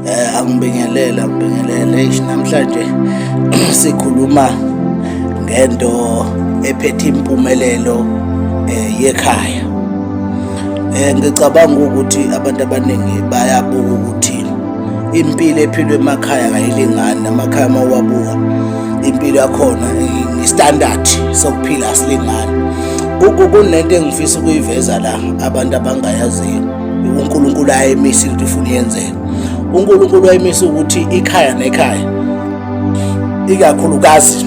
eh angibingelele angibingelele eish namhlanje sikhuluma ngento ephethe impumelelo eh, yekhaya eh ngicabanga ukuthi abantu abaningi bayabuka ukuthi impilo ephilwe emakhaya kayilingani namakhaya uma uwabuka impilo yakhona istandard sokuphila asilingani kunento engifisa ukuyiveza la abantu abangayaziyo uNkulunkulu ayemisi ukuthi ufuna yenzeke uNkulunkulu ayemisa ukuthi ikhaya nekhaya ikakhulukazi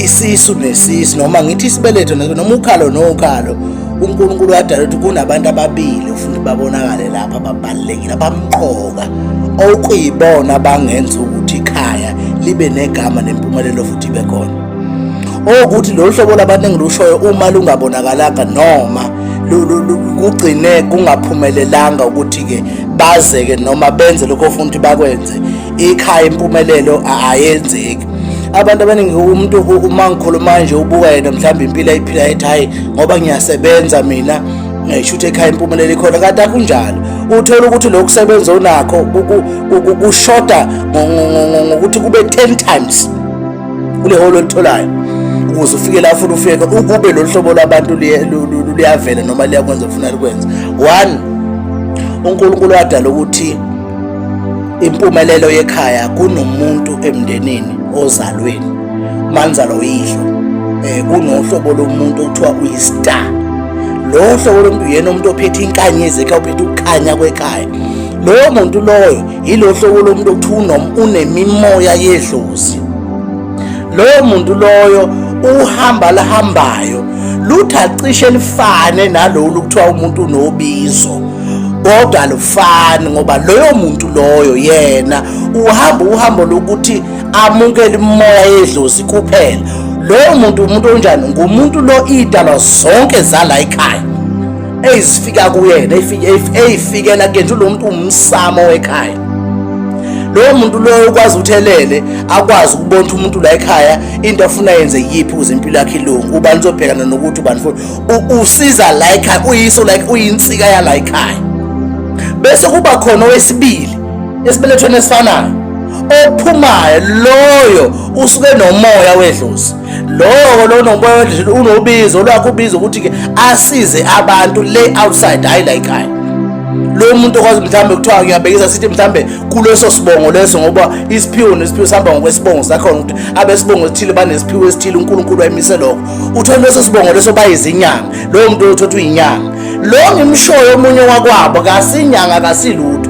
isisu nesisu noma ngithi isibeletho noma ukhalo nokhalo uNkulunkulu wadala ukuthi kunabantu ababili ufuna babonakale lapha ababalekile abamqoka okuyibona bangenza ukuthi ikhaya libe negama nempumelelo futhi ibe khona okuthi lolu hlobo labantu engilushoyo uma lungabonakalanga noma kugcine kungaphumelelanga ukuthi-ke bazeke noma benze lokho ofuna ukuthi bakwenze ikhaya impumelelo ayenzeki abantu abaningi umuntu uma ngikhuluma nje ubuka yena mhlawumbe impilo ayiphila ethi hhayi ngoba ngiyasebenza mina shuthe ekhaya impumelelo ikhona kanti akunjalo uthole ukuthi lokhu kusebenza onakho kushoda ngokuthi kube 10 times kule holo olitholayo ukuze ufike la ufuna ufike ukube lolu hlobo lwabantu luyavela noma liyakwenza ufuna likwenza one unkulunkulu wadala ukuthi impumelelo yekhaya kunomuntu emndenini ozalweni manzalo uyihlo um eh, kunohlobo lomuntu okuthiwa uyi-star lowo hlobo lomuntu uyena umuntu ophethe inkanyezi ekhaya uphethe ukukhanya kwekhaya lowo muntu loyo yilo hlobo lomuntu okuthiwa unemimoya yedlozi loyo muntu loyo uhamba lihambayo lutha cishe lifane nalolu kuthiwa umuntu unobizo kodwa alufani ngoba loyo muntu loyo yena uhamba uhambo lokuthi amukele imimoya yedlozi kuphela loyo muntu umuntu onjani ngumuntu lo idalwa zonke zala ekhaya eyizifika kuyena eyifikela kuyena lo muntu umsamo wekhaya lowo muntu loyo ukwazi ukuthi elele akwazi ukubona ukuthi umuntu la ekhaya into afuna yenze yiphi ukuze impilo yakhe ilungu ubani uzobhekana nokuthi ubani futhi usiza la ekhaya uyiso like uyinsika yala ekhaya bese kuba khona owesibili esibelethweni esifanayo ophumayo loyo usuke nomoya wedlozi lowo lona umoya wendlela unobizo lwakhe ubizo ukuthi-ke asize abantu le outside hhayi la ekhaya lo muntu okwazi mhlawumbe kuthiwa ngiyabekisa sithi mhlawumbe kuleso sibongo leso ngoba isiphiwo nesiphiwo sihamba ngokwesibongo sakhona ukuthi abesibongo esithile banesiphiwo esithile unkulunkulu wayemise lokho uthole leso sibongo leso bayizinyanga lowo muntu othothi uyinyanga lo ngimshoyo omunye wakwabo kasinyanga kasilutho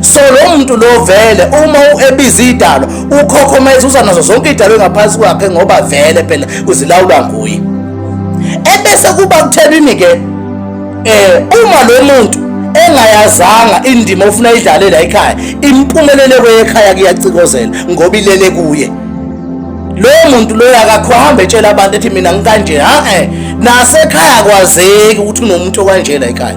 so lo muntu lo vele uma ebiza idalo ukhokhomeza uza nazo zonke idalo engaphansi kwakhe ngoba vele phela uzilawulwa nguye ebese kuba kuthelwini ke eh uma lo muntu engayazanga indima ofuna idlalela ekhaya impumelele kwekhaya kuyacikozela ngoba ilele kuye lo muntu loyo akakho hambe etshela abantu ethi mina ngikanje ha eh nasekhaya kwazeki ukuthi unomuntu okanjela ekhaya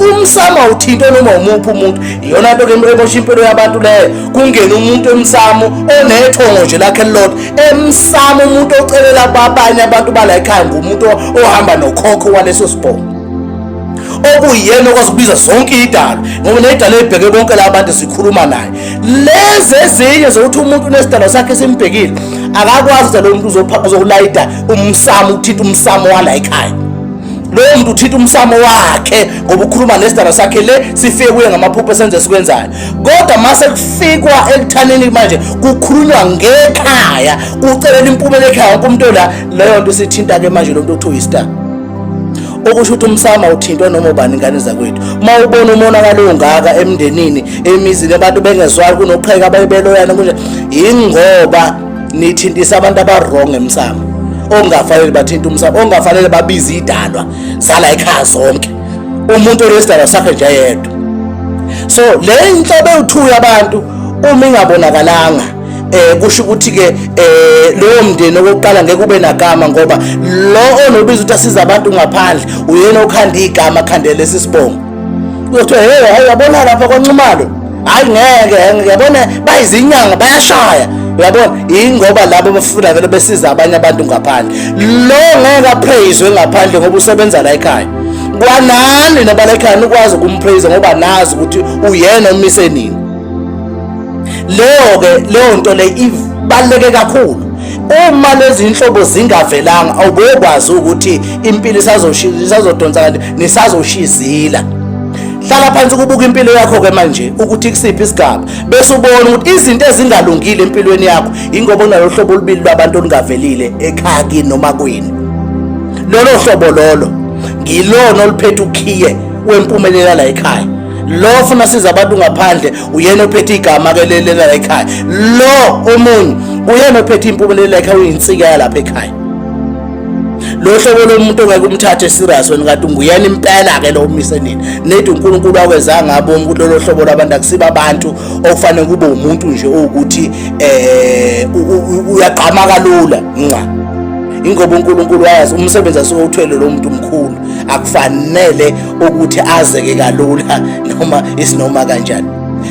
umsamo awuthinte noma umuphi umuntu iyona nto ke emosha impilo yabantu leyo kungena umuntu emsamo onethongo nje lakhe lilodwa emsamo umuntu ocelela abanye abantu bala ekhaya ngumuntu ohamba nokhokho waleso sibongo okuyena okwasibiza zonke idalo ngoba nedalo ebheke bonke la bantu sikhuluma naye lezi ezinye zokuthi umuntu unesidalo sakhe simbhekile akakwazi ukuthi lo muntu uzokulayida umsamo uthinta umsamo wala ekhaya lowo muntu uthinta umsamo wakhe ngoba ukhuluma nesidara sakhe le sifike kuye ngamaphupho esenze sikwenzayo kodwa mase kufikwa ekuthaneni manje kukhulunywa ngekhaya ucelela impumela ekhaya wonke umuntu la leyo nto sithinta-ke manje lo muntu okuthiwa uyistar okusho ukuthi umsama uthintwa noma ubani ingane zakwethu uma ubona umonakalo ongaka emndenini emizini abantu bengezwali kunoqheka abayibeloyana kunje yingoba nithintisa abantu abarong emsamo ongafanele bathinta umsamo ongafanele babize idalwa zala ekhaya zonke umuntu onesidalwa sakhe nje yedwa so le nhlobo ewuthuya abantu uma ingabonakalanga eh kusho ukuthi ke eh lowo mndeni okokuqala ngeke ube nagama ngoba lo onobiza ukuthi asiza abantu ngaphandle uyena okhanda igama khandele sisibongo Uyothi hey hayi yabona lapha kwaNxumalo. Hayi ngeke ngeke yabona bayizinyanga bayashaya. Uyabona ingoba labo bafuna vele besiza abanye abantu ngaphandle. Lo ngeke apraise ngaphandle ngoba usebenza la ekhaya. Kwanani nabala ekhaya nikwazi ukumpraise ngoba nazi ukuthi uyena umise nini. Leyo ke leyo nto le ibaleke kakhulu. uma lezi nhlobo zingavelanga awubekwazi ukuthi impilo isazodonsa kanti nisazoshiya izila hlala phansi ukubuka impilo yakho ke manje ukuthi kusiphi isigaba bese ubona ukuthi izinto ezingalungile empilweni yakho ingoba unalo hlobo olubili lwabantu olungavelile ekhaya kini noma kwini lolo hlobo lolo ngilona oluphethe ukhiye wempumelela la ekhaya lo funa siza abantu ngaphandle uyena ophethe igama ke lelela la ekhaya lo omunye uyena ophethe impumelela ekhaya uyinsika yalapha ekhaya lo hlobo lomuntu ongeke umthathe serious wena kade unguyena impela ke lo umise nini nedi uNkulunkulu akwezanga ngaboni ukuthi lolo hlobo labantu akusiba abantu okufanele kube umuntu nje ukuthi eh uyagqama kalula nqa ingoba uNkulunkulu wayazi umsebenzi asuke uthwele lo muntu mkhulu akufanele ukuthi azeke kalula noma isinoma kanjani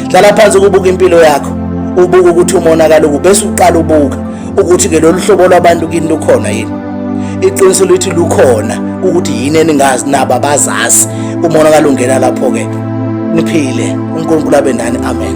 hlala phansi kubuka impilo yakho ubuka ukuthi umonakalo kubese uqala ubuka ukuthi ke lolu hlobo lwabantu kini lukhona yini iqiniso lithi lukhona ukuthi yini eningazi nabo abazazi umonakalo ungena lapho-ke niphile unkulunkulu abe nani amen